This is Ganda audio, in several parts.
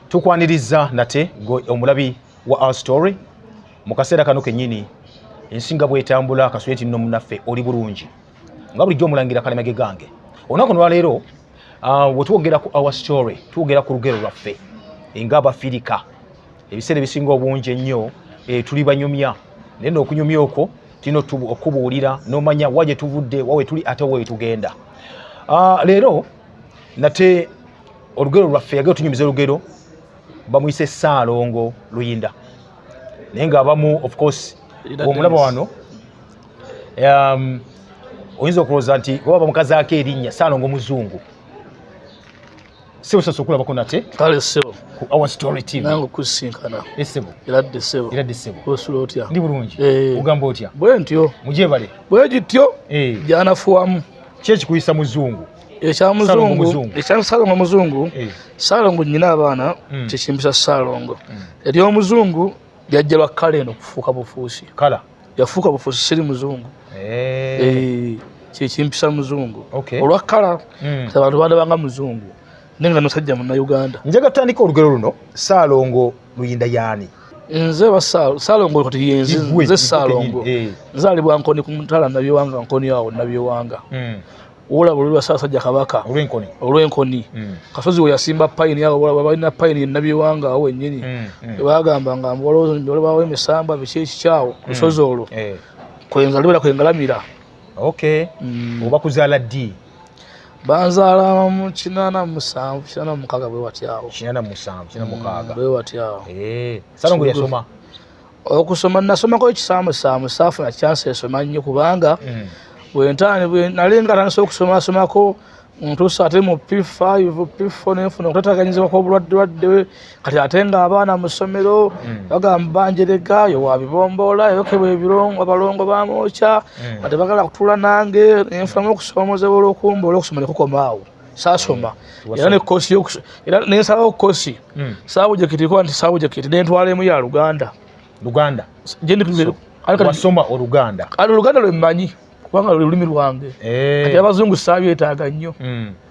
tukwaniriza nate omulabi wa our story mu kaseera kano kennyini ensi nga bwetambula kasweti nno munaffe oli bulungi nga bulijjo omulangira kalemage gange olunaku nolwaleero ah, wetwogera ku our story twogera ku lugero lwaffe nga abafirika ebiseera ebisinga obungi ennyo eh, tuli banyumya naye nookunyumya okwo tulina okubuulira nomanya wa gyetuvudde wawe tuli ate wetugenda ah, leero nate olugero lwaffe yagee otunyumiza olugero bamuyise saalongo luyinda naye nga abamu of course omulaba wano um, oyinza okulowooza nti oba bamukazaako erinnya saalongo muzungu sibusobola okulabako nate kale sebo our story team nange kusinkana esebo era de sebo era de sebo osula otya ndi bulungi eh. ogamba otya bwe ntyo mujebale bwe gityo eh. janafuwamu kye kikuyisa muzungu ekyamuzungu ekyasalongo muzungu eh. salongo nyina abaana hmm. kyekimbisa salongo hmm. eri omuzungu yajja lwa kala eno kufuuka bufuusi kala yafuuka bufuusi siri muzungu eh. Eh, kyekimpisa muzungu olwa kala hmm. abantu bandabanga muzungu naye nga musajja munnayuganda njaga tutandika olugero luno saalongo luyinda yaani nze saalongo kati yenzi nze saalongo eh. nzaalibwa nkoni ku mutala nabyewanga nkoni awo nabyewanga hmm. olaba olulwa saasajja kabaka olw'enkoni hmm. kasozi we yasimba payini awo olaba balina payini nabyewanga awo wennyini hmm, bagamba nga olwawo emisambwa biki ekikyawo lusozi olwo eh. kwenzalibera kwengalamira oba kuzaala ddi banzaala mu kinana musanvu kinana mukaaga bwe watyawo kinana musanvu kinana mm, mukaaga bwe watyawo eh, sala ngu yasoma okusoma nasomako ekisaamusaamu saafuna kyansi esoma nnyo kubanga mm. bwentaani nali nga tandisa okusomasomako ntuusa ate mu p5 p4 nenfuna okutataganyizibwa kwobulwaddelwadde kati ate nga abaana mu ssomero hmm. bagamba banjerega yo wabibomboola yokebwa ebirongo abalongo bamwokya hmm. nga tebagala kutula nange nenfunamu okusoomozebwa olwokumboola okusoma nekukomaawo sasoma hmm. era nekosi era nensalawo kosi sabujekiti kuba nti sabujekiti nentwala emu ya luganda luganda wasoma oluganda kati oluganda lwemmanyi kubanga lwe lulimi lwange eh. kati abazungu sabyetaaga nnyo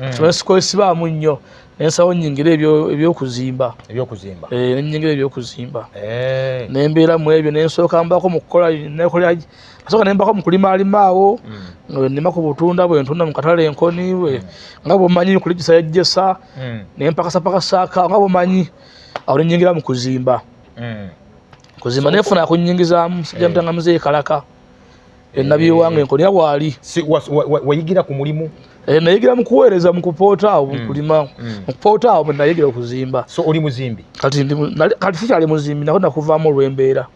mm. tumale sikwesibaamu nnyo nensawo nyingira ebyokuzimba eh, nenyingira ebyokuzimba eh. nembeera mu ebyo nensooka mbako mukukolaasoka nembako mukulima alimaawo mm. nima ku butunda bwentunda mukatale enkoni mm. nga bwomanyi kulijisa yajjesa nempakasapakasaaka nga bwomanyi awo nenyingira mu kuzimba kuzimba nefuna kunyingizaamu sijamutanga muzeeyi kalaka ennabi ewange eh. nkolera waali wayigira ku mulimu eh, nayigira mukuweereza mukupoota awo hmm. mukulima hmm. mukupoota awo nayigira okuzimba so oli muzimbi kati kati sikyali muzimbi nako nakuvaamu olwembeera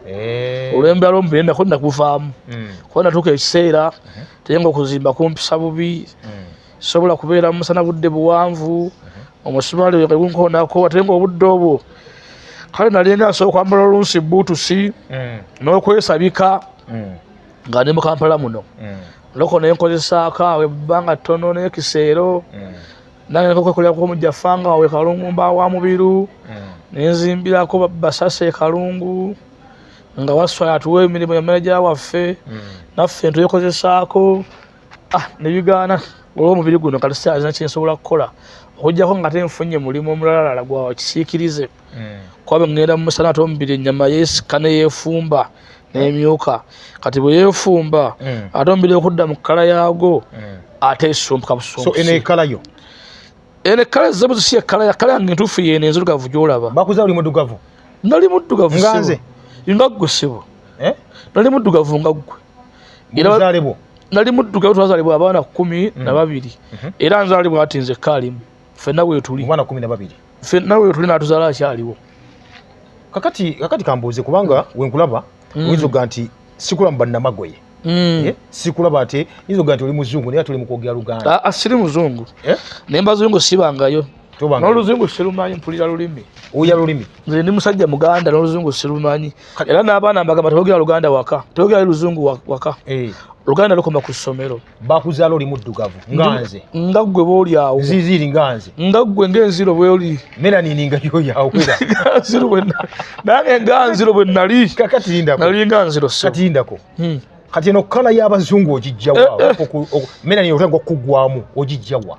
eh. olwembeera lwomubeera nako nakuvaamu hmm. kuba natuuka ekiseera uh-huh. tenga okuzimba kumpisa bubi sobola kubeera mu musana budde buwanvu mhm. omusumaali weka gunkoonako ate nga obudde obwo kale nalinga nsobola okwambala olunsi buutusi mm. n'okwesabika mm. nga ndi mu kampala muno mm. loko naye nkozesaako awo ebbanga ttono n'ekiseero nange nkokwekolera kuba omujja fanga wawe kalungu mba wa mubiru nenzimbirako basasa ekalungu nga waswala tuwa emirimu ya maneja waffe naffe ntuyekozesaako ah, nebigaana olwomubiri guno kati saalina kyensobola kukola okujjako nga te nfunye mulimu omulalalala gwa kisiikirize hmm. kuba bwe ŋŋenda mu musana ate omubiri ennyama yeesika ne yeefumba n'emyuka kati bwe yeefumba hmm. ate omubiri okudda mu kkala yaago hmm. ate esumbuka busumbusi eno ekkala ezze buzisi ekkala yakkala yange entuufu yeeno enzirugavu gy'olaba bakuza oli muddugavu nali muddugavu nga nze nga ggwe ssebo eh? nali muddugavu nga ggwe nzalibwa nali muddugavu twazalibwa abaana kumi mm. na babiri mm-hmm. era nzalibwa ati nze kaalimu fenna wetuli fenna wetuli natuzala akyaliwo kakati kakati kambuuze kubanga mm. wenkulaba mm. oyinza okuga nti sikula mu bannamagoye Mm. Eh? sikulaba ate yinza okuga nti oli muzungu naye ate oli mukwogera luganda ah, ah, siri muzungu eh? naye mbazungu sibangayo n'oluzungu sirumanyi mpulira lulimi uya lulimi nze ndi musajja muganda n'oluzungu sirumanyi era n'abaana mbagamba tebogera luganda waka tebogera luzungu waka eh. luganda lukoma ku ssomero bakuzaala oli muddugavu nganze nga ggwe boolyawo ziziri nganze nga ggwe ngaenziro bwoli melanini nga yoyawera nganziro bwenna nange nganziro bwe nali kakati lindako nali nganziro so kati lindako hmm. kati eno kkala y'abazungu ogijjawa eh, eh. melanini otandika okugwamu ogijjawa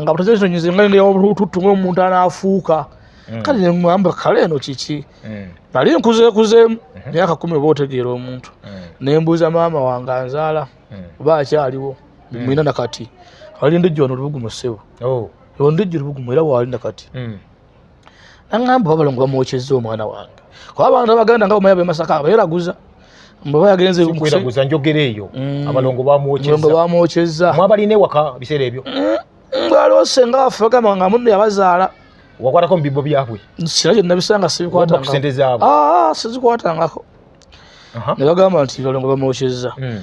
nga butazesonyeze nga ngeya olututtu ngaomuntu anaafuuka mm. kale nemugamba kale eno kiki mm. nali nkuzeekuzeemu mm-hmm. myaka kumi oba otegeera omuntu mm. nembuuza maama wange anzaala oba akyaliwo mwina nakati ali ndijjo wano lubugumu ssebo oh. ndijjo lubugumu era waali nakati naŋŋamba oba balongo bamwokyezza omwana wange kuba abantu abaganda nga bamaya bemasaka abeeraguza mbaba yagenze kweraguza njogera eyo mm. abalongo bamwokyezza mwabalina ewaka biseera ebyo mm, ngaloose nga affe bagamba nga munne yabazaala wakwatako mu bibbo byabwe sina kyonna bisanga sibikwatangako ah, sizikwatangako ne bagamba nti balongo bamwokyezza mm.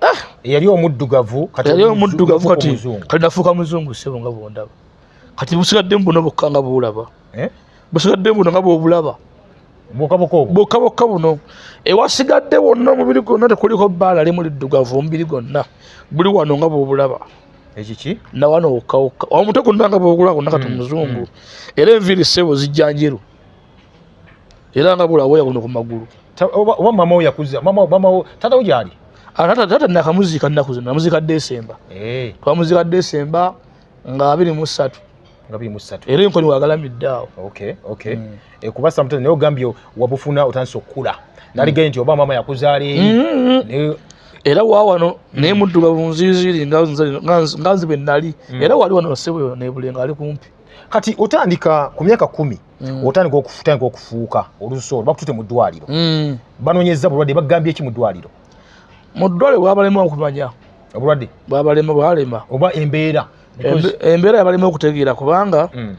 ah! yali omuddugavu kati yali omuddugavu kati kati nafuuka muzungu sebo nga bwondaba kati busigadde mbuno bokka nga bwolaba eh? busigadde mbuno nga bwobulaba bokka bokka buno ewasigadde wonna omubiri gwonna tekuliko bbaala limu liddugavu omubiri gwonna buli wano nga bwobulaba ekiki nawano wokkawokka omutwe gunnanga bwogula gonna kati mm, omuzungu mm. era enviiri sebo zijja njeru era nga bula woya kuno ku magulu oba mama wo yakuza mama mama wo tata wo gyali ah, tata tata nakamuzika nnaku zino namuzika desemba eh. twamuzika desemba nga abiri mu ssatu nga biri mu ssatu era enkoni wagalamidde awo okay okay mm. e, kuba sometimes naye ogambye wabufuna otandise okukula naligaye mm. nti oba mama yakuzaala eri mm -hmm. era wawano mm. naye muddugavu nziziri nga nzibe nali mm. era wali wano sebweyo nebulenga ali kumpi kati otandika ku myaka kumi mm. otandika okutandika okufuuka olusoolo bakutute mu ddwaliro mm. banonyeza bulwadde bagambye ki mu ddwaliro mu ddwaliro bwabalema okumanya obulwadde bwabalema bwalema oba embeera embeera yabalema okutegeera kubanga mm.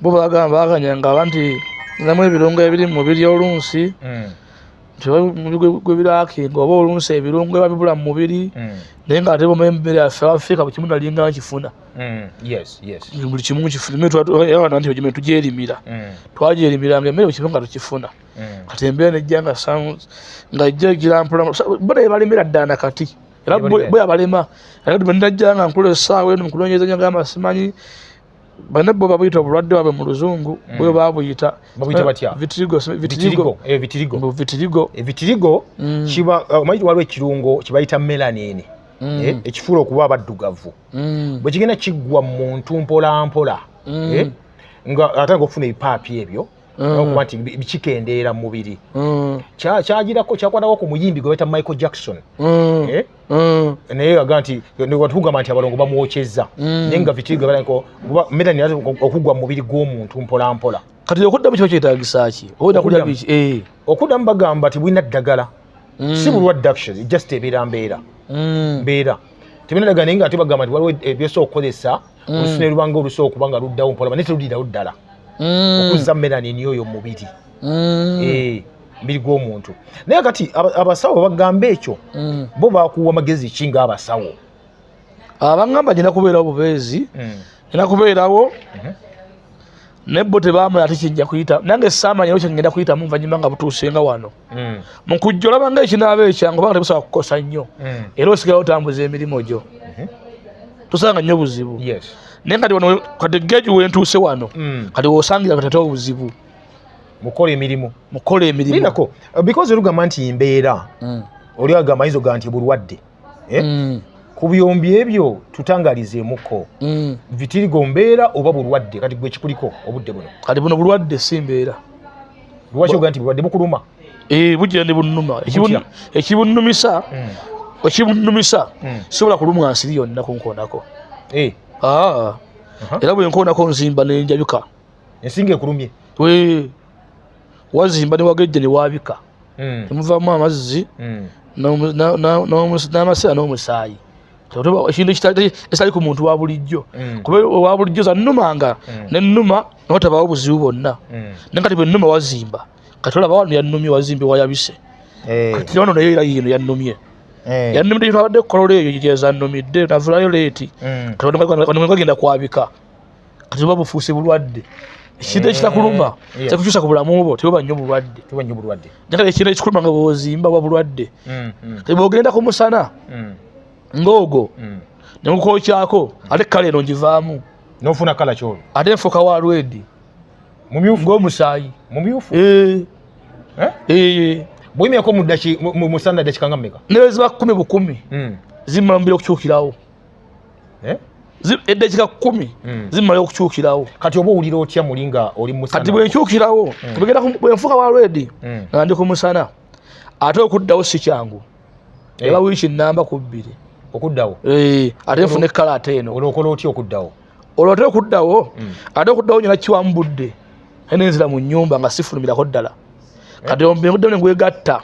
bo bagamba baganyanga banti namu ebirungo ebiri mu mubiri olunsi mm. gwebirakenga oba olunsi ebirungo eba bibula mu mubiri mm. naye nga ate boma emmere yaffe abafeeka buli kimu nalinga nkifuna mm. buli kimu nkifuna nti gyeme tugyerimira mm. twagyerimiranga emmere buli kimu nga tukifuna kati embeera nejja nga nga ejja girampola bona ebalemera ddala nakati era bwe abalema era bwenajja nga nkola essaawa eno mukunoonyereza nyo gamba simanyi bane bo babuyita obulwadde bwabwe mu luzungu mm. bwe babuyita babuyita batya eh, vitirigo vitirigo eh vitirigo mu vitirigo eh, vitirigo mm. kiba eh, omanyi waliwo ekirungo kibayita melanin mm. eh ekifuula okuba abaddugavu mm. bwe kigenda kiggwa mu muntu mpola mpola mm. eh nga atanga okufuna ebipaapi ebyo mm. okuba nti kikendeera mu mubiri mm. kyagirako kyakwatako ku muyimbi gwe baita michael jackson mm. eh? naye aga nti tugamba nti abalongo bamwokyezza naye nga vitigwebalanko kuba medani okugwa mu mubiri gw'omuntu mpolampola kati okuddamu kiba kyetagisa ki eh. okuddamu bagamba nti bulina ddagala si bulwadde actually just ebeera mbeera mbeera tebinadaga naye nga ate bagamba nti waliwo ebyesa okukozesa mm. olusu ne lubanga olusu okuba nga luddawo mpolaba naye terudirawo ddala mm. okuzza melanin oyo mumubiri mm. eh, mubiri gw'omuntu naye kati abasawo bagamba ekyo bo bakuwa magezi ki nga abasawo abangamba ah, genda kubeerawo bubeezi genda kubeerawo mhm. naye bo tebamala ate kijja kuyita nange saamanya ekyo ngenda kuyitamu nvanyuma nga butuusenga wano mm. mu kujja olaba nga ekinaaba ekyangu obanga tebusobola kukosa nnyo mm. era osigala otambuza emirimu gyo mm-hmm. tusanga nnyo buzibu naye kati wano kati geji wentuuse wano mm. kati wosangira kati ate obuzibu mukola emirimu mukola emirimu because olugamba nti mbeera oli agamba yinza oga nti bulwadde eh? mm. ku byombi ebyo tutangalizeemuko mm. vitirigo mbeera oba bulwadde kati gwe kikuliko obudde buno kati buno bulwadde si mbeera lwaki oga nti bulwadde bukuluma eh, bujira ne bunuma ekibunumisa mm. ekibunumisa mm. sisobola kulumwa nsiri yonna kunkoonako eh. ah. uh-huh. era bwenkoonako nzimba nenjajuka ensinga ekulumye wazimba ne wagejja ne waabika hmm. temuvaamu amazzi hmm. n'amasira n'omusaayi ekintu ekitali ku muntu wa bulijjo hmm. kuba owa bulijjo zanuma nga nenuma notabaawo obuzibu bwonna naye kati bwenuma wazimba kati olaba wano yanumye wazimbi wayabise eh. kati wano naye era yino yanumye eh. yanumidde yino abadde kukolola eyo gyezanumidde navulayo leeti kati wano kwagenda kwabika kati oba bufuuse bulwadde ekintu eh, ekitakuluma kyakukyusa ku bulamu bwo teba nyo bulwadde njagala ekintu ekikuluma nga bwozimba wa bulwadde mm, mm. kati bwogenda ku musana mm. ng'ogwo negukokyako ate kala eno ngivaamu nofuna kala kyolo ate nfuka wa lwedi ng'omusaayi mumyufu eh. Eh? bwimyako musana dakika nga mumeka neweziba kumi bukumi zimala mubira okukyukirawo eh? eddakiika kumi hmm. zimala okukyukirawo kati oba owulira otya muli nga oli musana kati bwenkyukirawo hmm. bigenda bwenfuuka wa redi hmm. nga ndi ku musana ate okuddawo si kyangu eh. eba wiiki nnamba ku bbiri okuddawo eh, ate nfuna ekkala ate eno olwokola otya okuddawo olwo ate okuddawo ate okuddawo nyina kiwamu budde nenzira mu nyumba nga sifulumirako ddala eh. kati ombengudde ne ngwegatta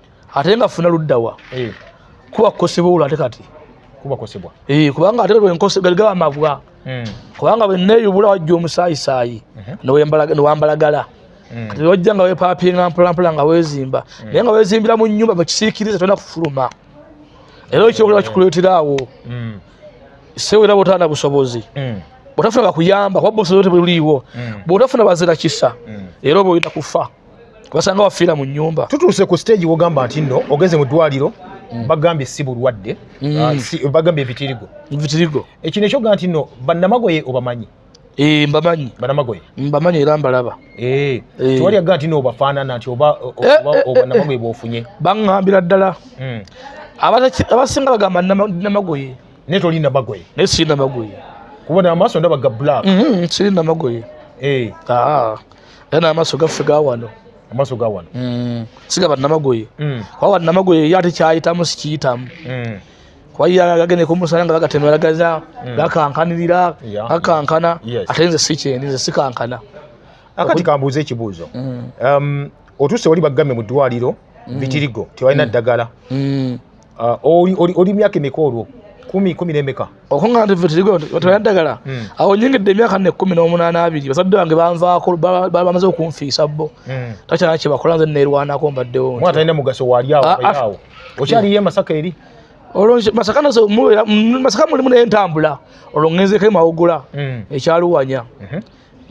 ate nga funa luddawa eh. kuba kukosebwa olwo ate kati kuba kukosebwa eh, kubanga ate galigaba amabwa hmm. kubanga bweneyubula wajja omusayisaayi mhm. newambalagala hmm. kati wajja nga wepapinga mpolampola nga wezimba hmm. naye nga wezimbira mu nyumba mukisiikiriza tolina kufuluma era ekyokulaba eh. kikuleetera awo sewera botana busobozi bwotafuna bakuyamba kuba busobozi tebuliiwo bwotafuna bazira kisa era oba oyina kufa wasanga wafiira mu nyumba tutuuse ku stage wogamba nti no ogenze mu ddwaliro mm. bagambye si bulwadde mm. ah, bagambye ebitirigo ebitirigo ekino ekyoga nti no bannamagoye obamanyi eh, mbamanyi banamagoye mbamanyi era mbalaba eh, eh. tewali aga nti nobafaanana nti oba obannamagoye bwofunye baŋambira ddala mm. abasinga bagamba namagoye naye toli namagoye naye siri namagoye kubona amaaso ndaba ga black mm-hmm, siri namagoye ah. era n'amaaso gaffe ga wano amaaso ga wano mm. siga bannamagoye mm. kuba bannamagoye ye ate kyayitamu sikiyitamu mm. kuba ye agende kumusala nga bagatemeragaza gakankanirira gakankana ate nze sikyendi nze sikankana akati kambuuza ekibuuzo um, otuuse wali baggamye mu ddwaliro bitirigo tebalina ddagala Ah, oli myaka emeka olwo kumi kumi nemeka okuŋŋaana tevetera ddagala hmm. awo nyingidde emyaka ne kumi n'omunaana abiri bazadde bange banvaako bamaze okunfiisa bo hmm. takyana kyebakola nze neerwanako mbaddewo mwana talina mugaso waliawo ah, ah. okyaliyo emasaka eri olwo masaka masaka mulimu naye ntambula olwo ŋŋenzeko emawugula hmm. ekyaluwanya mhm.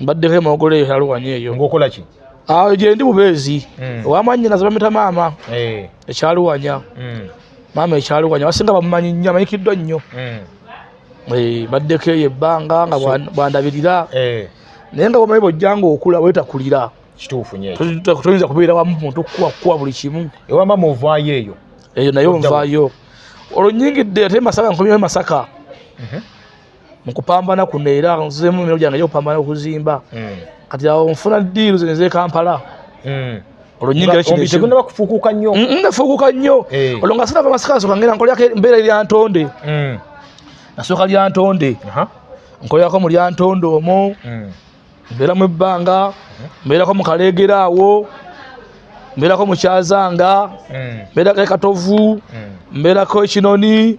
mbaddeko emogolo eyo yaluwanya eyo ngaokola ki awo ah, gyendi bubeezi hmm. wamanyina zebamita maama eh. ekyaluwanya hmm. maama ekyaluwanya basinga bamumanyi nnyo amanyikiddwa nnyo hmm. eh, baddeko eyo ebbanga nga bwandabirira eh. naye nga bwomanyi bwojjanga okula wetakulira kituufu nyo toyinza kubeera wamu muntu kukuwa kukuwa buli kimu ewama muvayo eyo eyo naye onvayo olwo nyingidde ate masaka nkomyewo masaka mhm. mu kupambana kuno era nzizemu emirimu gyange gyokupambana okuzimba hmm. kati awo nfuna diiru zino ezekampala hmm. olwo nyingira kinotegunaba kufuukuuka nnyo nafuukuuka nnyo eh. olwo nga sinava masikansooka ngera nkolako embeera eryantonde hmm. nasooka lyantonde nkolako mu lyantonde omwo mbeeramu ebbanga mbeerako mu kaleegera awo mbeerako mu kyazanga mbeerako ekatovu mbeerako ekinoni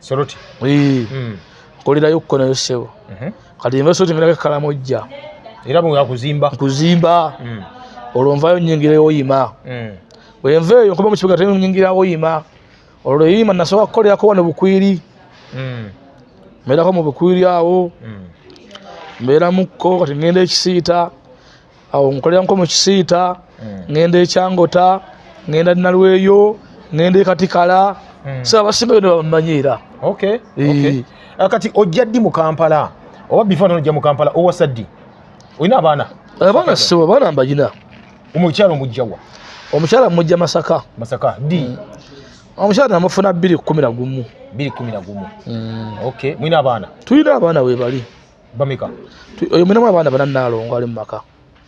Soroti. Ee. Mm. Kolira yokko na yosebo. Mhm. Mm Kati nva soroti ngala kala mojja. Era mu yakuzimba. Kuzimba. Mm. Olonva yo nyingire yo yima. Mm. Wenva yo kuba mu kibuga temu nyingira yo yima. Ololo yima nasoka kolira ko wana bukwiri. Mm. Mera ko mu bukwiri awo. Mm. Mera mukko kati ngende ekisiita. Mm. awo nkolera nko mu kisiita hmm. ngenda ekyangota ngenda nalweyo ngenda ekatikala hmm. sa abasinga yona bamanyi era eh. ah, kati ojja ddi mu kampala oba bifo nojja mu kampala owasa ddi olina abaana abaana sibo abaana mbagina omukyalo mujjawa omukyala mujja masaka masaka di mm. omukyala namufuna bbiri kumi na gumu bbiri kumi na gumu mm. okay mwina abaana tulina abaana webali bameka oyo munamu abaana bana nalongo ali mumaka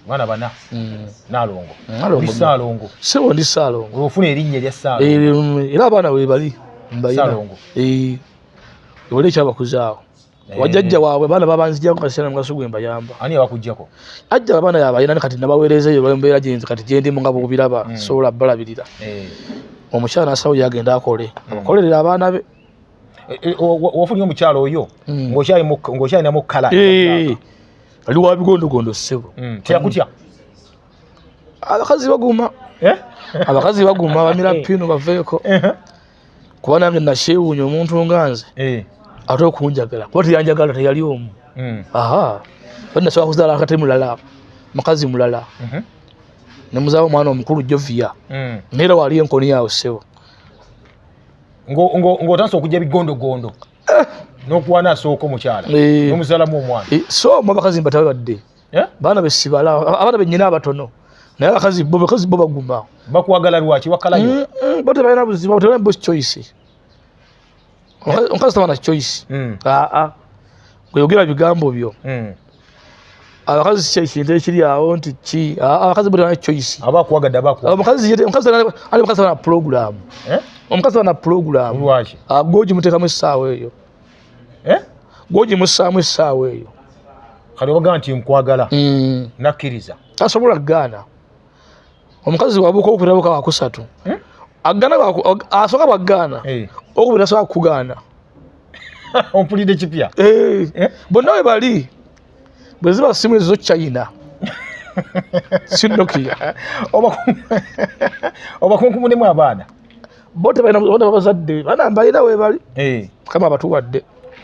mwana bana mm. nalongo mm, salongo sebo ndi salongo ofuna erinnya erya salongo eh, era abaana webali mbayinalongo eh, wali ekyabakuzaawo eh. wajajja waabwe abaana babanzijako kasana mugaso gwe mbayamba ani abakujjako ajja abaana yabayina ne kati nabaweereza eyo mbeera gyenzi kati gyendimu nga bwobiraba mm. sobola balabirira omukyala nasawo yagenda akole abakolerera abaana be Eh, eh, wafunye omukyalo oyo hmm. ng'okyalina mu kala eh, ali wa bigondogondo ssebo hmm, teyakutya abakazi baguma abakazi baguma bamira pino baveeko kuba nange nakyewuunya omuntu nga nze ate okunjagala kuba teyanjagala teyali omu hmm. aha nasobola kuzaala akate mulala mukazi mulala mhm. nemuzaala omwana omukulu joviya naye era wali enkoni yawe ssebo ng'otandisa okujja bigondogondo eh. n'okuwana asooka omukyala eh. n'omuzalamu omwana eh, so mu abakazi mbatabe badde baana besibala abaana benyina abatono naye abakazi bo bakazi bo baguma bakwagala lwaki wakalayo mm, mm, bo tebalina buzibu bo tebalina bosi choice omukazi tabana choice aa mm. ah, ah. gweyogera bigambo byo abakazi kye kintu ekiri awo nti ki abakazi buli wana choice aba akuwagadde aba akuwagadde omukazi yete omukazi ali mukazi wana program eh? omukazi wana program lwaki ah, goji mutekamu essaawa eyo eh? goji musaamu essaawa eyo kale obagamba nti nkwagala mm. nakkiriza tasobola gaana omukazi wabuka okubirabuka wakusatu eh? agana asoka bwagaana eh. okubira soka kugaana ompulidde kipya eh. bonna we bali bwe ziba simu ezo china sinokia obakunkumunemu abaana bo tebalina babazadde bana mbalina webali kama abatuwadde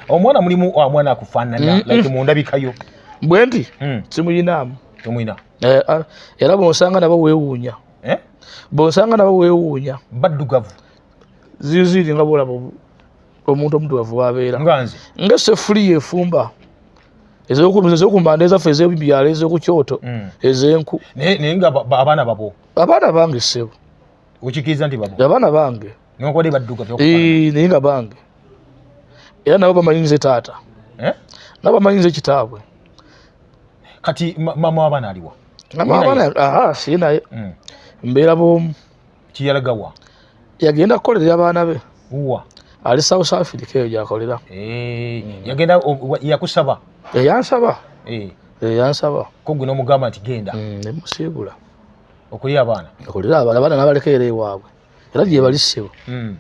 omwana mulimu omwana akufaanana mm, mm. like mundabikayo bwe nti mm. simuyinaamu tomuyina eh, ah, era bonsanga nabo wewuunya eh? bonsanga nabo wewuunya baddugavu ziziri nga bolaba omuntu omudugavu wabeera nga sefuliya efumba ezokumbanda ezaffe ezebyalo ezokukyoto mm. ezenku naye nga abaana babo abaana bange sebo okikiriza nti babo abaana bange nokode badduka naye nga bange era nabo bamanyi nze taata eh? nabo bamanyi nze kitaabwe kati mama wabana aliwa ah, si naye mm. mbeera bomu kiyalagawa yagenda kukolerera abaana be wa ali south africa eyo gyakolera eh, yagenda yakusaba eyansaba eh, eh. eyansaba kogwe nomugamba nti genda mm, nemusiibula okulira abaana okulira abaana abaana nabalekeera ewaabwe era gyebali ssebo mm.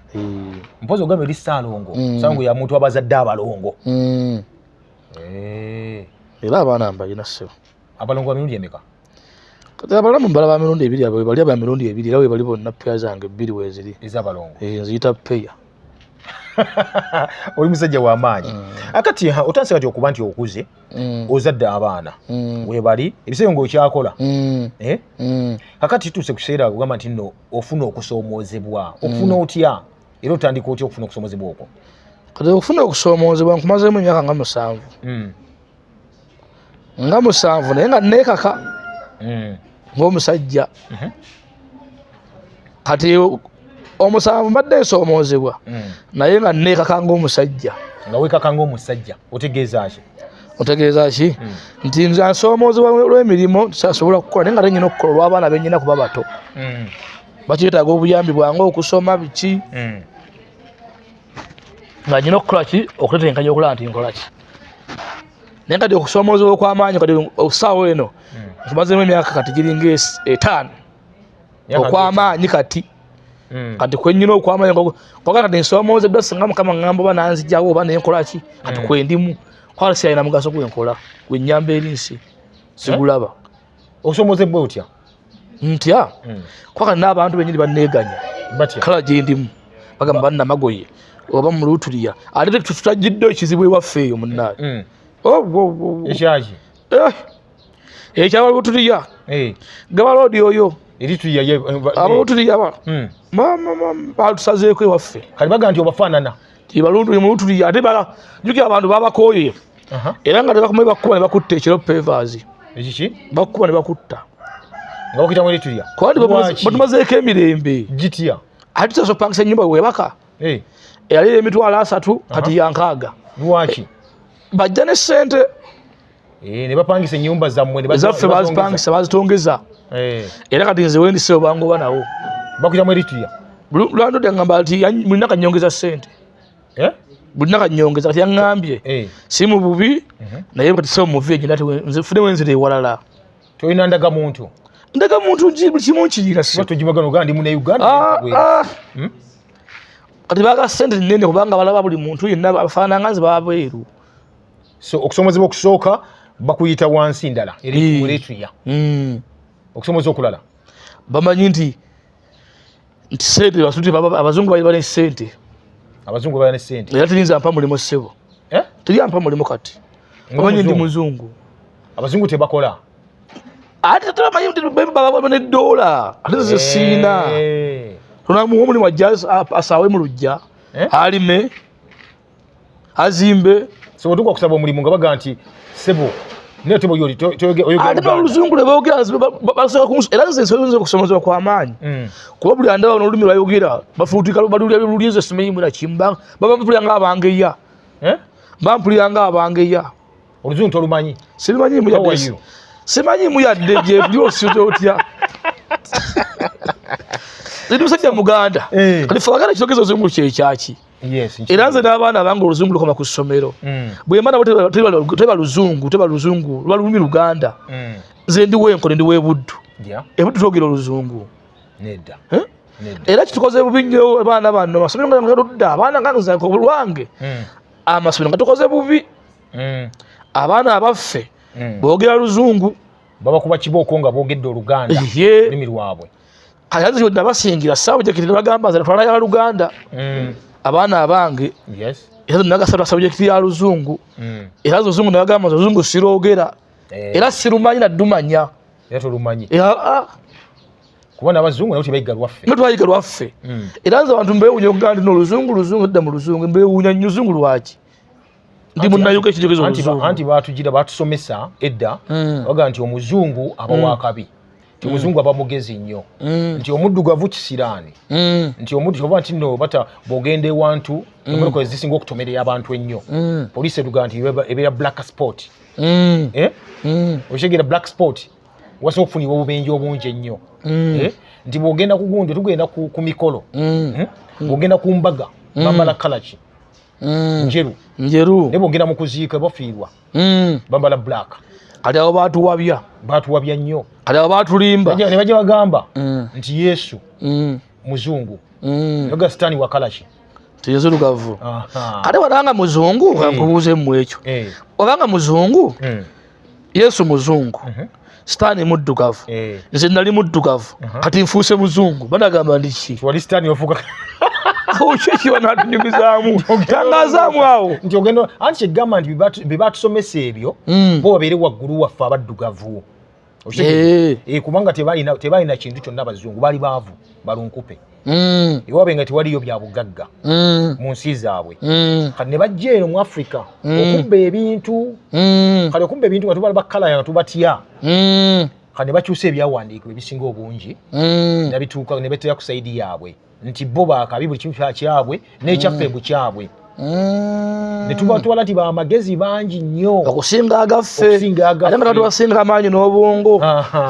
mpozi ogamba eri saalongo saalongo yamuntu abazadde abalongo Eh. era abaana mbalina ssebo abalongo ba mirundi emeka kati abalamu mbala ba mirundi ebiri abo bali aba mirundi ebiri era webali bonna peya zange ebbiri weziri ezabalongo eh, nziyita peya oli musajja wamaanyi mm. akati ah, otandise kati okuba nti okuze mm. ozadde abaana mm. webali ebiseera nga okyakola eh? kakati tuuse kukiseera ogamba nti no ofuna okusoomoozebwa okufuna otya era otandika otya okufuna okusomozebwa okwo kati okufuna okusoomozebwa nkumazeemu emyaka nga musanvu hmm. nga musanvu naye nga neekaka hmm. ngaomusajja mhm. kati omusanvu mbadde nsoomoozebwa hmm. naye nga neekaka ngaomusajja nga weekaka ngaomusajja otegeeza ki otegeeza ki nti nze nsoomoozebwa lw'emirimu sasobola kukola naye nga tenyina okukola olw'abaana benyina kuba bato bakyetaaga obuyambi bwange okusoma biki hmm. nga nyina okukola ki okutetenkanya okulaba nti nkola ki naye kati okusoomoozebwa okw'amaanyi kati okusaawo eno hmm. nkumazemu emyaka kati giringa etaano okw'amaanyi kati hmm. kati kwenyina okw'amaanyi kwaga kati nsoomoozeddwa singa mukama ŋŋamba oba nanzijawo oba naye nkola ki kati hmm. kwendimu kwala siyalina mugaso gwenkola gwennyamba eri nsi sigulaba eh? osoomoozebwa otya ntya hmm. kwaka n'abantu benyini banneeganya kala gye ndimu bagamba bannamagoye oba mu lutuliya ate tutagidde ekizibu ewaffe eyo munnaye hmm. oh, oh, oh, ekyaki eh, ekyaba lutuliya eh. gaba loodi oyo abalutuliya batusazeeko ewaffe kati baga nti obafaanana Ibalundu ni mulutu ya ate bala juki abantu baba koye aha era nga bakumwe bakuba ne bakutta ekiro pevers ekiki bakuba ne bakutta nga okita mweli tuya kwali batumaze ke mirembe gitiya ati taso pangisa nyumba we baka eh eyali emitwala asatu kati yankaaga lwaki bajja ne sente Eh, ne bapangisa ennyumba zammwe ezaffe bazipangisa bazitongeza eh. era kati nze wendise obangoba nawo bakuyamu eritiya lwando dangamba ti mulina kanyongeza sente eh? bulina kanyongeza kati yaŋambye si mu bubi mhm. naye kati sebo muvi egyo nati nze fune wenzira ewalala tolina ndaga muntu ndaga muntu buli kimu nkiyira sitojimaganogaandi mune uganda ah, ah. Hmm? kati baga sente nene kubanga balaba buli muntu yenna afaananga nze babweru so okusomozebwa okusooka bakuyita wansi ndala eretria eh. hmm. okusomoza okulala bamanyi nti nti sente basute abazungu bali bali sente abazungu bali sente era terinza mpa mulimu sebo eh? teri ampa mulimu kati omanyi ndi muzungu abazungu tebakola ate tulamanyi nti bababa ne dola ate zesiina eh. onamuwa omulimu ajja asaawe mu lujja alime azimbe sebo tukwa kusaba omulimu nga baga nti sebo naye tebo yoli ate n'oluzungu lwe boogera basobola kumusoma era nze ensolo nze okusomozebwa kwa maanyi mm. kuba buli andaba n'olulimi lwayogera bafuutika balulya lulya ezo simanyi muna kimba baba mpulira nga abangeya eh? mba mpulira nga abangeya oluzungu tolumanyi simanyi muyadde simanyi muyadde gyebuli osize otya ndi musajja muganda eh. kati fe wagala ekitogeza ozungu kyekyaki era nze n'abaana abange oluzungu lukoma ku ssomero mm. bwemba nabo teba luzungu teba luzungu luba lulumi luganda mm. nze ndi wenkole ndi webuddu ebuddu twogera oluzungu era kitukoze bubi nnyo abaana bano amasomero nga ngaludda abaana nganzange obulwange mm. amasomero nga tukoze bubi abaana abaffe boogera luzungu babakuba kibooko nga boogedde oluganda lulimi lwabwe kati azi kyonna basingira sabujekiti ne bagamba nze natwala ya luganda mm. abaana abange era zonna gasabula sabujekiti ya luzungu mm. era zo zungu ne bagamba nze luzungu siroogera eh. era sirumanyi naddumanya era tolumanyi ah. kubona abazungu nabo tebayiga lwaffe no twayiga lwaffe mm. era nze abantu mbewunya okugamba nti noluzungu luzungu edda mu luzungu mbewunya nnyo luzungu lwaki ndi munnayuka ekijogezo anti baatugira baatusomesa edda bagaa nti omuzungu aba wakabi nti mm. muzungu aba mugezi nnyo mm. nti omuddugavu kisiraani mm. nti omudugavu nti no bata bwogenda ewantu emmotoka ezisinga okutomerera abantu ennyo poliisi etugaa nti ebeera black sport eh? okitegeera black sport wasobola okufunibwa obubenje obungi ennyo eh? nti bwogenda ku gundi tugenda ku mikolo eh? bwogenda ku mbaga bambala kalaki njeru njeru naye bwogenda mu kuziika bafiirwa mm. bambala black kati abo batuwabya batuwabya nnyo kati abo batulimba ne bajja bagamba mm. nti yesu mm. muzungu mm. yoga sitani wakalaki tinzirugavu kati watanga muzungu kankubuuze mm. mu ekyo mm. obanga muzungu mm. yesu muzungu mm -hmm. sitaani muddugavu eh. nze nali muddugavu uh-huh. kati nfuuse muzungu banagamba ndiki wali sitaani ofuuka awukyekyiba natunyumizaamu tangazaamu awo nti ogenda anti kyegamba nti bebatusomesa ebyo hmm. bo babeere waggulu waffe abaddugavu eh. Eh, kubanga tebalina kintu kyonna abazungu bali baavu balunkupe mm. ewaabwe nga tewaliyo bya bugagga mm. mu nsi zaabwe mm. kati ne bajja eno mu afrika mm. okubba ebintu mm. kati okubba ebintu nga tubala bakalaya nga tubatya mm. kati ne bakyusa ebyawandiikibwa ebisinga obungi mm. nabituuka ne betera ku saidi yaabwe nti bo bakabi buli kimu kyabwe n'ekyaffe mm. bukyabwe mm. netubatwala ti bamagezi bangi nnyo okusinga agaffe ate nga tatubasinga amaanyi n'obwongo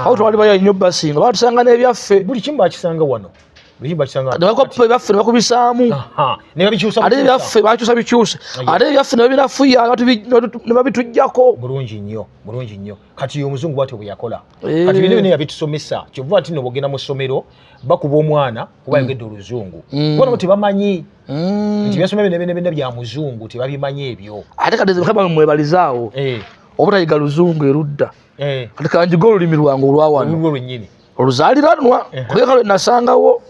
awo twali baya nnyo basinga batusanga n'ebyaffe buli kimu bakisanga wano bakubisaamu ate ebyaffe bakyusa bikyuse ate ebyaffe nebabinafuya nebabitujjako bulungi nnyo bulungi nnyo kati omuzungu bwatyo bwe yakola eh. kati bino bino yabitusomesa kyova nti no bogenda mu ssomero bakuba omwana kuba mm. yogedde oluzungu mm. bona nti bamanyi mm. nti byasoma bino bino bino bya muzungu tebabimanyi ebyo ate kati mukama mwebalizaawo eh. obutayiga luzungu erudda eh. kati kanjiga olulimi lwange olwawano olwo lwennyini oluzaliranwa kubera kale nasangawo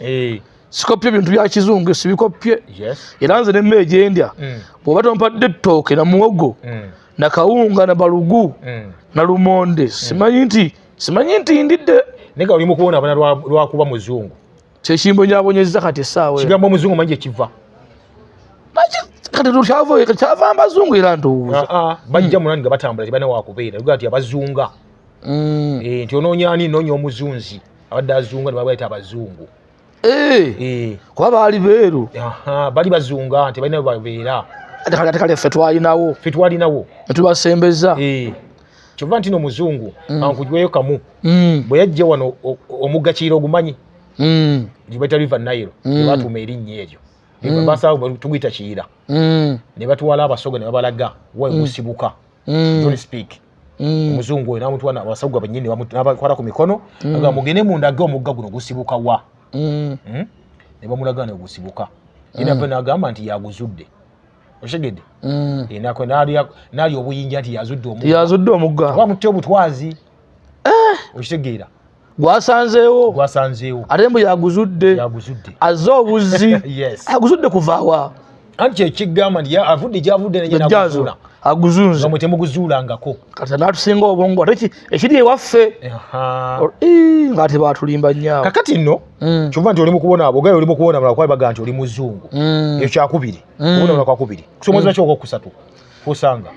sikopye bintu bya kizungu sibikopye era nze nemmeegyendya bwoba tompadde ettooke na muwogo na kawunga na balugu mm. na lumonde mm. simanyi nti simanyi nti ndidde nega oli mukuona abana lwakuba muzungu kyekimbo nyabonyezza kati esaawa kigambo omuzungu manyi kyekiva kati kyava mbazungu era ndowooza ah, ah. bajja mm. munani nga batambula tebana wakubeera uga nti abazunga mm. eh, nti ononya ani nonya omuzunzi abadde azunga nebabaita abazungu Eh. Eh. kuba baali beeru bali bazunga nti balina babeera kati kale ffe twalinawo ffe twalinawo netubasembeza eh. kyova nti no muzungu mm. ankujweyo kamu mm. bwe yajja wano omuggakiira ogumanyi mm. gibaita river nile ebatuuma erinnya eryo basaa tuguyita kiyira ne batwala abasoga ne babalaga wagusibuka mm. don't speak mm. omuzungu oyo namutwa abasagwa benyini nabakwata ku mikono mm. aga mugende mundage omugga guno gusibuka wa mm. mm? ne bamulaga negusibuka ina mm. nagamba nti yaguzudde oshegede mm. ina kwe nali nali obuyinja nti yazudde omugga yazudde omugga bamutte obutwazi eh. oshitegera gwasanzeewo gwasanzeewo ate mbu yaguzudde yaguzudde azze obuzzi yes aguzudde kuvaawa anti kyekigamba nti avudde gyavudde nayenaguzuula aguzunze mwe temuguzuulangako kati natusinga obwongo ate ekiri ewaffe ngaate batulimba nyaawo kakati nno mm. kyova nti oli mukubona abogaye oli mukubona mala kuba baga nti oli muzungu mm. ekyo kyakubiri mm. kubona mala kwakubiri kusomoza kyoko kusatu kusanga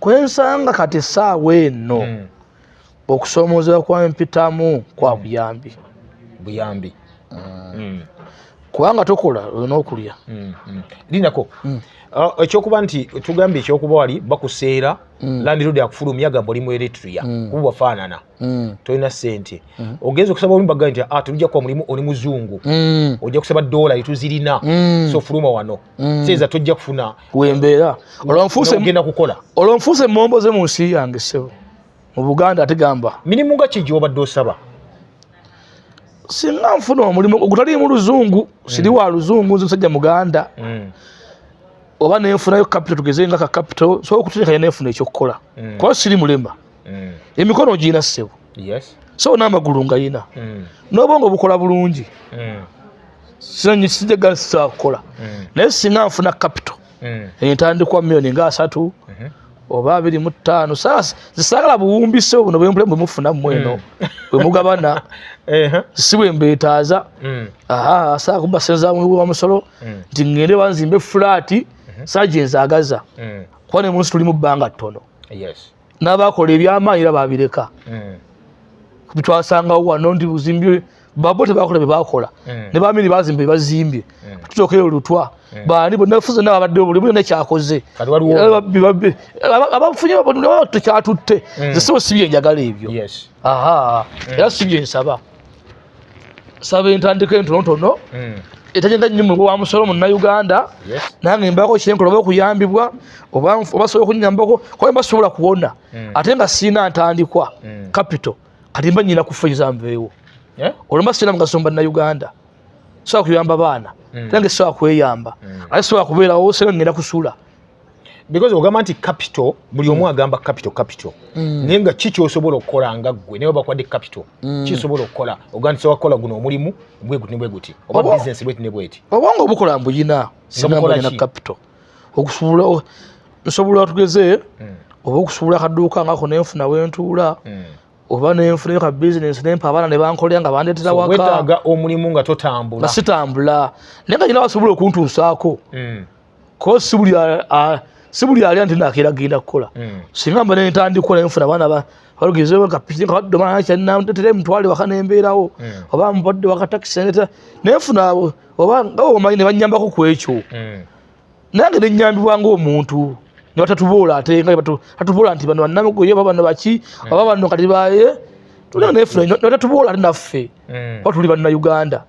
kwensanga kati esaawa eno okusoomoozebwa kwa mpitamu kwa mm. buyambi buyambi mm. Mm. kubanga tokola olina okulya linako uh, ekyokuba nti tugambye ekyokuba wali bakuseera landirodi akufulumya gamba oli mu eritria kuba wafaanana tolina sente ogenza okusaba omu bagaa nti ah, tulija kuba mulimu oli muzungu ojja kusaba dola etuzirina so fuluma wano seeza tojja kufuna wembeera olwonfuusegenda kukola olwonfuuse emombo ze mu nsi yange sebo mu buganda ategamba mirimu nga kigi obadde osaba singa nfuna omulimu ogutaliimu luzungu mm. siri wa luzungu nze musajja muganda mm. oba nenfunayo kapito tugeze nga ka kapito sobola okuteekayo nenfuna ekyokukola mm. kuba siri mulema mm. emikono ogirina ssebo so n'amagulu nga yina mm. n'obwongo bukola bulungi mm. sijagasa kukola mm. naye singa nfuna kapito mm. entandikwa miyoni nga asatu mm-hmm. oba abiri mu ttaano zisagala buwumbise buno bwempule bwe mufuna mu eno mm. bwe mugabana si bwe mbeetaaza asaala kumbasenza wa musolo nti ŋŋende banzimbe fulaati mm-hmm. saa gye nzaagaza kuba ne munsi tuli mu bbanga ttono n'abaakola ebyamaanyi era baabireka hmm. bitwasangawo wano nti buzimbi babo tebakola bye bakola hmm. ne bamini bazimba bye bazimbye hmm. tutokeyo olutwa baani bonna fuze nawe abadde buli mulina kyakoze abafunye tekyatutte zesibo si byenjagala ebyo era si byensaba saba entandika entonotono hmm. etagenda nnyo mu wa musolo munnayuganda nange mbaako kyenkola oba okuyambibwa oba osobola okunyambako kuba mba sobola kuwona hmm. ate nga siina ntandikwa hmm. capital kati mba nyina kufaiza nveewo olwo mba siina mugaso mubannauganda sobola kuyamba baana nange sobola kweyamba ate sobola kubeerawo sena ngenda kusula because ogamba nti capital buli omu mm. agamba capital capital mm. naye nga ki kyosobola okukola nga ggwe naye obakwadde capital mm. kisobola okukola ogandisa wakukola guno omulimu bweguti ne bweguti oba bisinesi bweti ne bweti obanga obukola mbuyina sinambalina capital okusobola nsobola tugeze oba okusobola akaduuka ngako nenfuna wentuula oba nenfunayo ka bisinesi nempa abaana nebankolera nga bandetera wakawetaaga omulimu nga totambula nga sitambula naye nga nyina wasobola okuntuusaako ko si buli si buli alya nti nakeera genda kukola hmm. singa mba nentandikola nfuna abaana ba balugeze bakapiki kabadde omwana kyanamtetera emutwale waka nembeerawo hmm. oba mubadde wakatakisi neta naye nfuna abo oba nga omanyi ne bannyambako ku ekyo hmm. nange ne nnyambibwa ng'omuntu ne batatuboola ate nga tatuboola nti bano bannamugoye oba bano baki oba bano kati baye tulina nefuna ne batatuboola ate naffe oba tuli banna uganda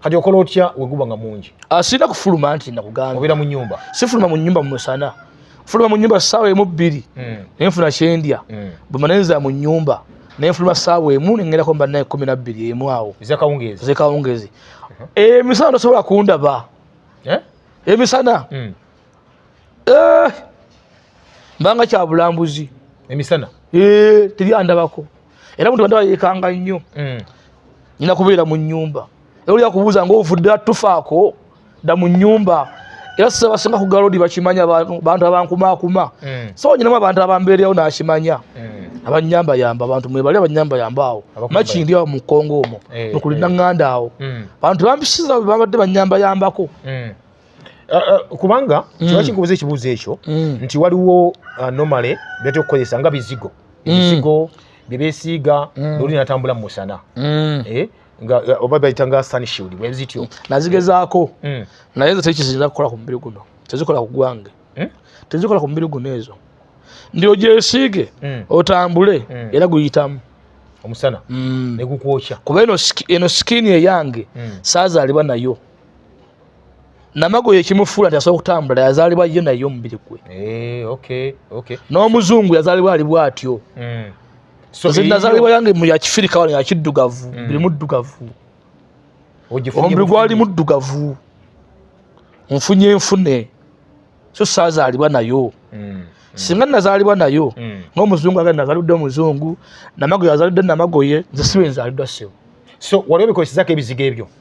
kati okola otya weguba nga mungi ah, sirina kufuluma nti nakugamba obeera mu nyumba sifuluma mu nyumba mumusana fuluma mu nyumba saawa emu bbiri hmm. naye nfuna kyendya hmm. bwemanenza mu nyumba naye nfuluma saawa emu nengerako mba naye kumi nabbiri emu awo ezekawungezi emisana eh, tosobola kundaba eh? emisana hmm. eh! mbanga kyabulambuzi emisana eh, teri andabako era muntu bandaba yekanga nnyo mm. nyina kubeera mu nyumba era olya kubuuza ngaovudde atufaako da mu nyumba era sisa basinga kugalodi bakimanya bantu abankumakuma mm. so nyinamu abantu abambeeryawo nakimanya mm. abanyambayamba abantu mwebali abanyambayamba awo makindi awo mukongo omwo eh, nokulina eh. nganda awo bantu bambisiza babadde banyambayambako Uh, uh, kubanga mm. kiba kinkubuza ekibuuzo ekyo mm. nti waliwo uh, nomale byatera okukozesa nga bizigo mm. ebizigo mm. byebesiiga mm. noli natambula mu musana mm. eh? nga uh, oba bayita nga sunshield bwezityo mm. nazigezaako mm. naye nze tekizirina kukola ku mubiri guno tezikola ku gwange mm? tezikola ku mubiri guno ezo ndi ogyesiige mm. otambule mm. era guyitamu omusana mm. negukwokya kuba eno sikini eyange mm. saazaalibwa nayo namagoye ekimufuula nti asobola okutambula yazaalibwa ye naye omubiri gwe eh, n'omuzungu yazaalibwa ali bwatyo hmm. nze nazaalibwa yange mu yakifirika wano yakiddugavu hmm. buli muddugavu omubiri gwali muddugavu nfunye enfune so saazaalibwa nayo hmm. singa nazaalibwa nayo ng'omuzungu aga nazalidde omuzungu namagoye azalidde namagoye nze sibe nzalidwa sebo so waliwo bikolesezaako ebizigo ebyo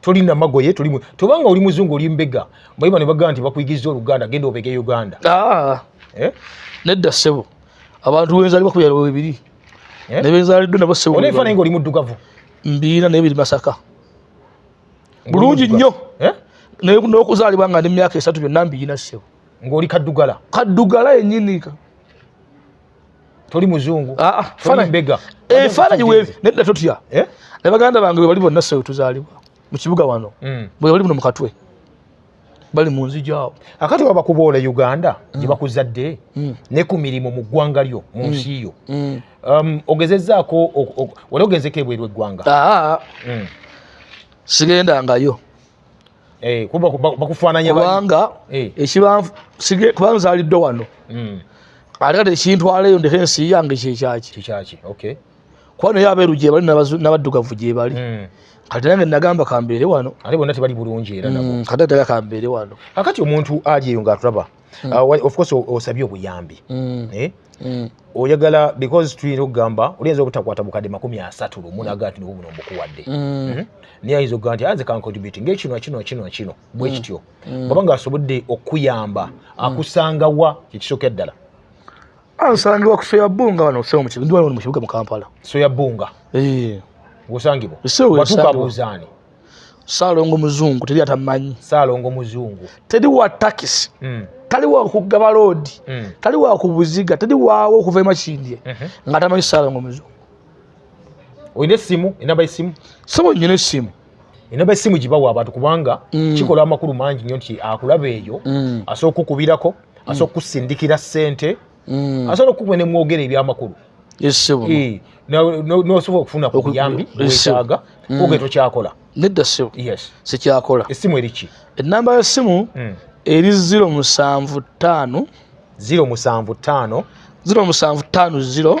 toli namagoye toli tobanga oli muzungu oli mbega bayiba ne bagamba nti bakuyigiriza oluganda genda obege uganda ah. eh? nedda sebo abantu wenzali bakubira webiri eh? nebenzalidde nabo sebo onefa naye nga oli muddugavu mbiina naye biri masaka bulungi nnyo eh? naye n'okuzaalibwa nga ndi myaka esatu byonna mbiina sebo ng'oli kaddugala kaddugala yennyini toli muzungu ah, ah, toli mbega efaananyi eh, webi nedda totya eh? ne baganda bange bwe bali bonna ssewe tuzaalibwa mu kibuga wano mm. bwe bali buno mu katwe bali mu nzija awo akati waba kuboola uganda mm. gye bakuzadde mm. ne ku mirimu mu ggwanga lyo mu nsi yo um, ogezezaako wali ogenzeko ebweru eggwanga ah, sigendangayo Eh, kuba bakufaananya kubanga eh. ekibanfu sige kubanga nzaliddwa wano hmm. ate kati ekintwaleyo ndeka ensi yange kyekyaki kyekyaki okay kuba naye abeeru gye bali n'abaddugavu gye bali hmm. kati nange nagamba kambeere wano ate bonna tebali bulungi era nabo hmm, kati atega kambeere wano akati omuntu ajeyo ng'atulaba hmm. ah, of course osabye obuyambi hmm. eh? hmm. oyagala because tuyinza okugamba oliyinza obutakwata bukadde makumi asatu lumu naga nti niwo buno mbukuwadde hmm? naye ayinza okugaa nti anze kankotibuti ngaekino kino kino kino bwe kityo baba nga asobodde okukuyamba akusangawa kyekisooka eddala ansangiwa ku soya bunga wano okusema mukibuga ndi wano mu kibuga mu kampala soya bunga eh. osangibwa watukabuuzaani saalongo muzungu teri atamanyi saalongo muzungu teri wa takisi mm. tali wa kugaba loodi mm. tali wa kubuziga teri waawo okuva emakindye mm -hmm. nga tamanyi saalongo muzungu olina esimu enamba esimu sebo nyina esimu enamba esimu gibawa abantu kubanga mm. kikola amakulu mangi nyo nti akulaba eyo mm. asobola kukubirako mm. asobola kusindikira sente mm. asobola okukuba ne mwogera ebyamakulu eh, nosobola okufuna ku buyambi bwetaaga mm. oge tokyakola nedda ssebo sikyakola essimu eriki ennamba y'essimu mm. eri ziro musanvu ttaano ziro musanvu ttaano ziro musanvu ttaano ziro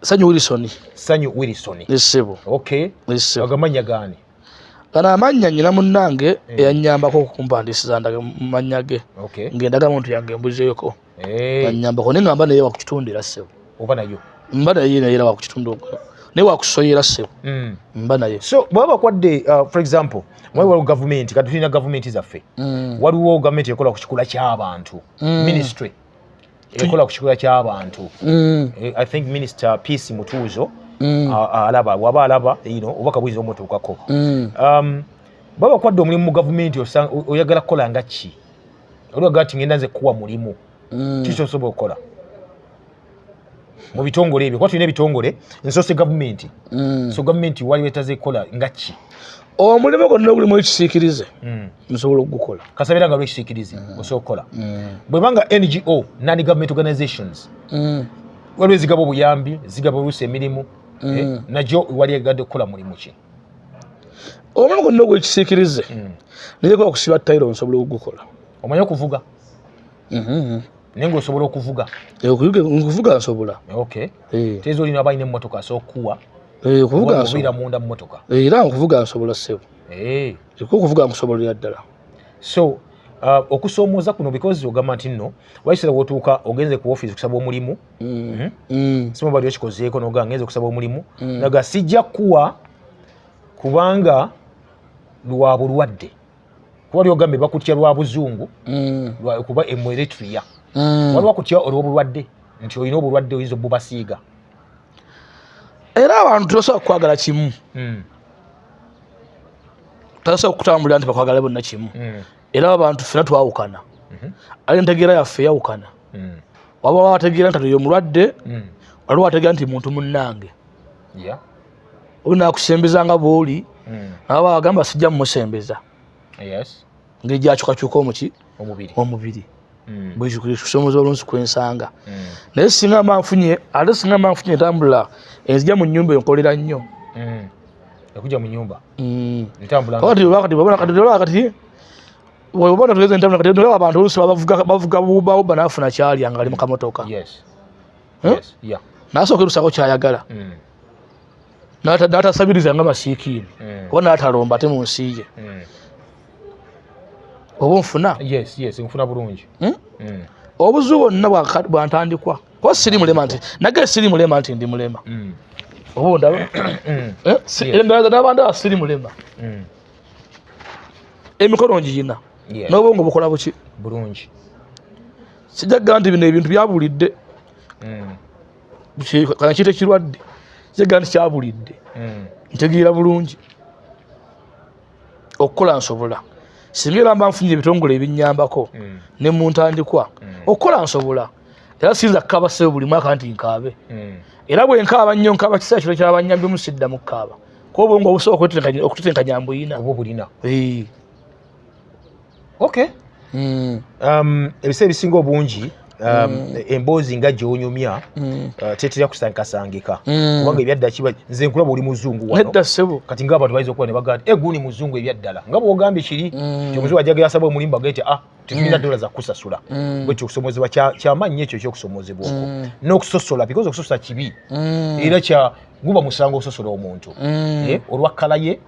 sanyu wilson sanyu wilson esebo okay esebo agamanya gani gano amannya nyina munnange eh. eyanyambako okumpandisiza ndaga mannya ge ngendaga muntu yange embuzeeko eh. anyambako naye ngamba naye wakukitundira sebo oba nayo mba naye naye era wakukitundu naye wakusoyera sebo mm. mba naye so bwaba bakwadde uh, for example mwali waliwo gavumenti kati tulina gavumenti zaffe mm. waliwo gavumenti ekola ku kikula ky'abantu mm. ministry ekola ku kikula ky'abantu mm. eh, i think minister peace mutuuzo mm. alaba waba alaba ino obubaka buyinza omutuukako mm. um, baba kwadde omulimu mu gavumenti oyagala kukola nga ki oliwaga ti ngenda nze kuwa mulimu kiki osobola okukola mu bitongole ebyo kuba tulina ebitongole nsose gavumenti mm. so gavumenti waliwo etaze kukola nga ki omulimu gwonna ogulimu ekisiikirize mm. nsobola okugukola kasabeera nga lwekisiikirize mm. osobola okukola bwebanga ngo non government organizations waliwo ezigaba obuyambi zigaba oluusi emirimu eh, nagyo wali egadde okukola mulimu ki omulimu gwonna ogwekisiikirize naye kuba kusiba tayiro nsobola okugukola omanyi okuvuga mm-hmm. naye ngaosobola okuvuga eh, okuvuga nsobola eh. teeza olina abalina emmotoka asobola okukuwa eh, okuvugaira munda mumotoka era nkuvuga nsobola ssebo eka okuvuga nkusobolera ddala so uh, okusoomooza kuno because ogamba nti nno waisera wotuuka ogenze ku office okusaba omulimu mm. mm-hmm. mm. sima bali okikozeeko noga ngenze okusaba omulimu mm. naga sijja kuwa kubanga lwa bulwadde kuba lyogambye bakutya lwa buzungu mm. kuba emueretria mm. waliwo kutya olwobulwadde nti olina obulwadde oyinza obubasiiga era abantu tosobola kukwagala kimu mm. tosobola kutambulira nti bakwagala bonna kimu era abantu fena twawukana mm-hmm. ali entegeera yaffe yawukana waba wategeera nti atoyo omulwadde waliwo wategeera nti muntu munnange yeah. onakusembeza nga bwoli mm. aba agamba sijja mumusembeza yes. ngeri gyakyukakyuka omuki omubiri, omubiri. Mm. bwekikusomeza olunsi kwensanga mm. naye singa mba nfunye ate singa mba nfunye entambula enzija mu nyumba enkolera nnyo mm. ekuja mu nyumba mm. obona tugeze entambula kati abantu olusi bavuga buba nafuna kyalya nga ali mukamotoka yes. eh? nasooka erusako kyayagala hmm. natasabiriza nga masiikiini hmm. oba natalomba ate mu nsi ye hmm. oba nfuna nfuna bulungi obuzibu bwonna bwantandikwa kuba siri mulema nti nage siri mulema nti ndi mulema oba ondaba eh? endalaza nabandaba siri mulema emikono ngiyina n'obwongo bukola buki bulungi sijja kugamba nti bino ebintu byabulidde hmm. kana kiita ekirwadde sijja kugamba nti kyabulidde hmm. ntegeera bulungi okukola nsobola singa era mba nfunye ebitongole ebinyambako hmm. ne mu ntandikwa okukola nsobola era siyinza kukaaba sebo buli mwaka nti nkaabe era bwe nkaaba nnyo nkaaba kiseera kino kyabanyambyemu sidda mu kukaaba kuba obwongo obusooka okutetenkanya mbuyina okay mm. um, ebiseera ebisinga obungi um, mm. emboozi nga gyonyumya mm. uh, tetera kusankasangika mm. kubanga ebyadda kiba nze nkulaba oli muzungu wanedda sebo kati nga abantu bayinza okuba ne bagamba e guni muzungu ebyaddala nga bwogambye kiri mm. omuzungu ajagira asaba omulimba gete ah tetulina mm. dola za kukusasula mm. bwekyo okusomozebwa kyamaanyi nyo ekyo ekyokusomozebwa okwo mm. n'okusosola because okusosola kibi mm. era kya guba musango ososola omuntu mm. eh, olwa kkala ye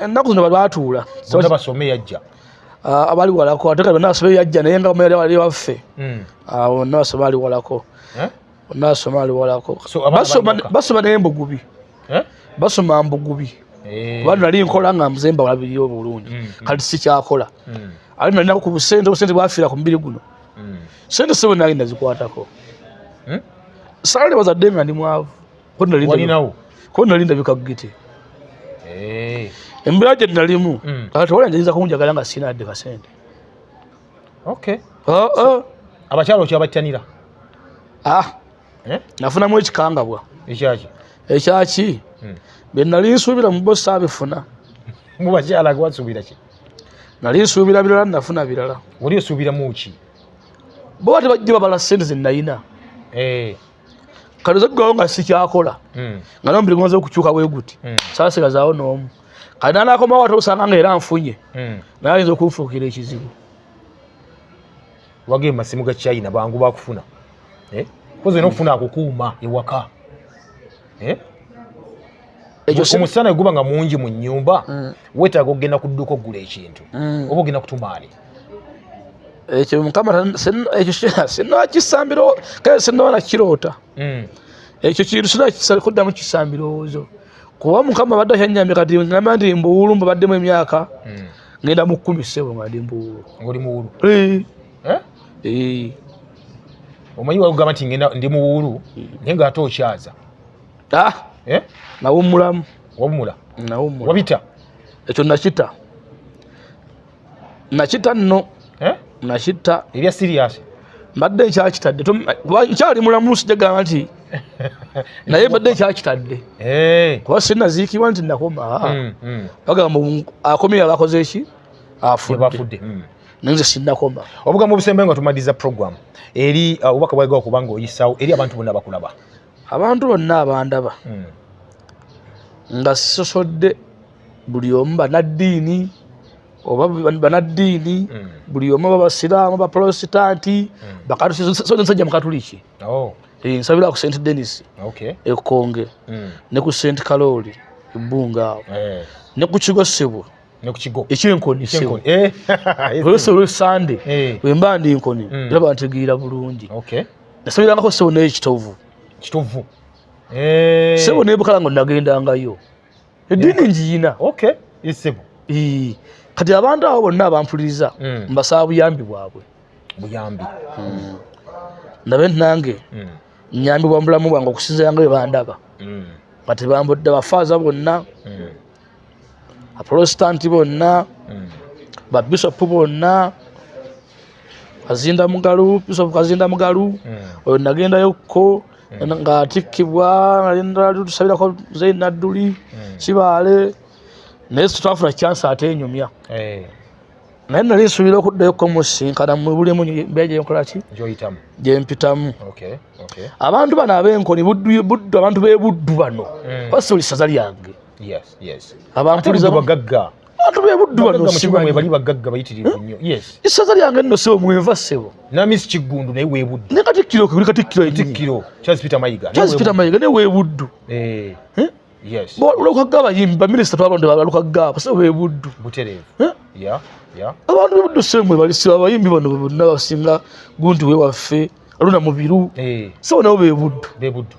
ennaku zino balwatuula bona basome yajja ah, abali walako ate kati bonna basome yajja naye nga bamaere wali waffe hmm. ah, bonna basome ali walako eh? bonna basome ali walako basoma naye mbugubi eh? basoma mbugubi eh. kuba nali nkola nga mzemba walabiriyo obulungi hmm, hmm. kati sikyakola ate nalina ku busente obusente bwafiira ku mubiri guno sente sebo nali nazikwatako sale bazadde nga ndi mwavu walinawo ko nali ndabika giti eh. embeera gye nalimu hmm. kati wala njayinza kunjagala nga sina adde kasente ah, ah. abakyalo okyabattanira ah. eh? nafunamu ekikangabwa ekyaki ekyaki hmm. bye nali nsuubira mu bosi abifuna mu bakyala gwasuubira ki nali nsuubira birala nafuna birala oli osuubiramu ki bo bati bajja babala sente zenayina eh. kati zeggawo nga sikyakola hmm. nga nomubiri gonza okukyuka bweguti hmm. sasigazaawo noomu kati nanakomawo ate osanga nga era nfunye hmm. naye ayinza okunfuukira ekizibu wage masimu ga china bangu bakufuna eh? koze nokufuna akukuuma ewaka eh? omusana eguba nga mungi mu nyumba mm. wetaaga okugenda ku dduuka okugula ekintu mm. oba ogenda kutumaani ekyo mukama ekyo sinakisambiro kale sinaba nakiroota mm. ekyo kintu sinakuddamu kisa mbirowoozo kuba mukama badde akyanyambye kati ngamba nti mbuwulu mbabaddemu emyaka ngenda mu kkumi ssebo nga ndi mbuwulu eh? Eh. omanyi wagamba nti ngenda ndi muwuulu hmm. naye nga ate okyaza ah! eh? nawummulamu wawumula nawummula wabita ekyo nakita nakita nno nakita ebya siriyasi mbadde nkyakitadde kyali mulamu sijagamba nti naye mbadde nkyakitadde kuba sinaziikibwa nti nakoma hmm, hmm. bagamba akomye yaba akoze ki afudde hmm. naye nze sinnakoma obugambo obusembayo nga tumaliza program eri uh, obubaka bwaliga okuba nga oyisaawo eri abantu bonna bakulaba abantu bonna abandaba hmm. nga sisosodde buli omu banaddiini oba banaddiini hmm. buli omu babasiraamu bapolositanti hmm. bakatusinsajja mukatuliki oh. eh, nsabira ku st denis ekonge ne ku st kalooli ebbunga awo eh. ne ku kigo sebwe ne ku kigo ekyenkoni ekyenkoni eh olwese olwe sande eh. bwe mba ndi nkoni mm. ndaba ntegeera bulungi okay nasoberangako sebo naye kitovu kitovu eh sebo naye bukala ngo nagendangayo edini eh. njiyina okay isebo ee kati abantu abo bonna abampuliriza mm. mbasaba buyambi bwabwe buyambi mm. ndabe nange mm. nyambi bwa mulamu bwange okusinzira nga bwe bandaba mm. kati bambudde bafaaza bonna mm. abaprotestanti bonna hmm. babisopu bonna kazinda mugalu bisopu kazinda mugalu hmm. oyo nagendayokko hmm. nga atikkibwa natusabirako zei nadduli kibaale naye twafuna kyansi ate enyumya eh. naye nali nsuubira okuddayo kumusisinkana mu buli mu mbeera gyenkola ki gyempitamu abantu bano ab'enkoni buddu abantu b'e buddu bano mm. basi buli ssaza lyange abampuliza bagagga abantu b'e buddu bano simanyi bali bagagga bayitirivu hmm? nnyo issaza lyange nno sebo mwenva sebo namisi kiggundu naye webuddu ne katikkiro kuli katikkiro katikkiro charles peter mayiga charles peter mayiga naye webuddu eh. hmm? Yes. Bo lukagga abayimbi ba minister twalonde ba lukagga abase be buddu. Buterevu. Eh? Yeah. Yeah. Abantu be buddu semwe bali siba abayimbi bano bonna basinga gundu we waffe aluna mubiru. Eh. So nabo be buddu. Be buddu.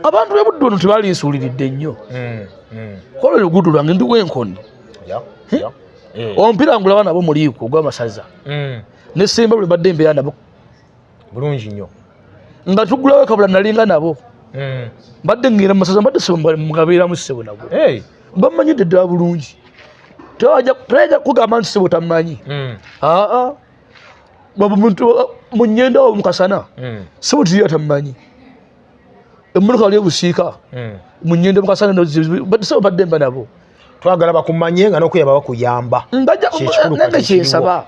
Abantu be buddu no tebali nsuliridde nnyo. Mm. Mm. Kola lugudu lwange ndi wenkoni. Yeah. Eh? Yeah. Eh. Ompira ngula bana bo muliiko gwa masaza. Mm. Ne semba bwe badde mbeya nabo bulungi nnyo nga tugulawo kabula nalinga nabo hmm. mbadde ngenda mumasaza mbadde mugabeeramu ssebo nabo bamanyidde ddala bulungi tayinza kugamba nti ssebo tamanyi hmm. aa munyenda wo mukasana hmm. ssebo tiriyo tamanyi emmotoka wali ebusiika munyenda mukasana ssebo badde mba nabo twagala bakumanye nga nokuyabawa kuyamba nange kyensaba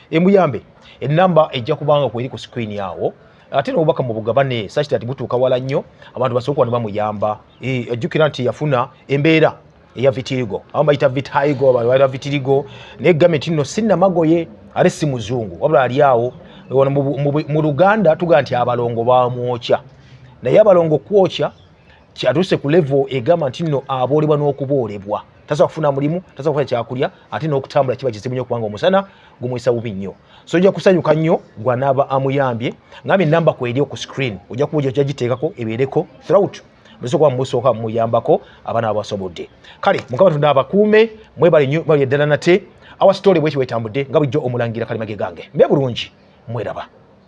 emuyambe enamba ejja kubanga kweri ku screen awo ate nobubaka mubugabane such that butuuka wala nnyo abantu basobola kuba nebamuyamba eh, ajjukira nti yafuna embeera eya vitirigo abamu bayita vitaigo abaita vitirigo naye gamenti nno sinamagoye ate si muzungu wabula ali awo mu luganda tugaa nti abalongo bamwokya naye abalongo kwokya kyatuuse ku levo egamba nti nno aboolebwa n'okuboolebwa tasobola kufuna mulimu tasobola kufuna kyakulya ate n'okutambula kiba kizibu nyo kubanga omusana gumuyisa bubi nnyo so ojja kusanyuka nnyo gwanaaba amuyambye ngambe enamba kweri oku screen ojja kuba ojja giteekako ebeereko throut musoka musoka muyambako abana abasobodde kale mukama tunda abakuume mwebale nyo bali eddala nate awa story bwekyo wetambudde nga bulijjo omulangira kali mage gange mbe bulungi mweraba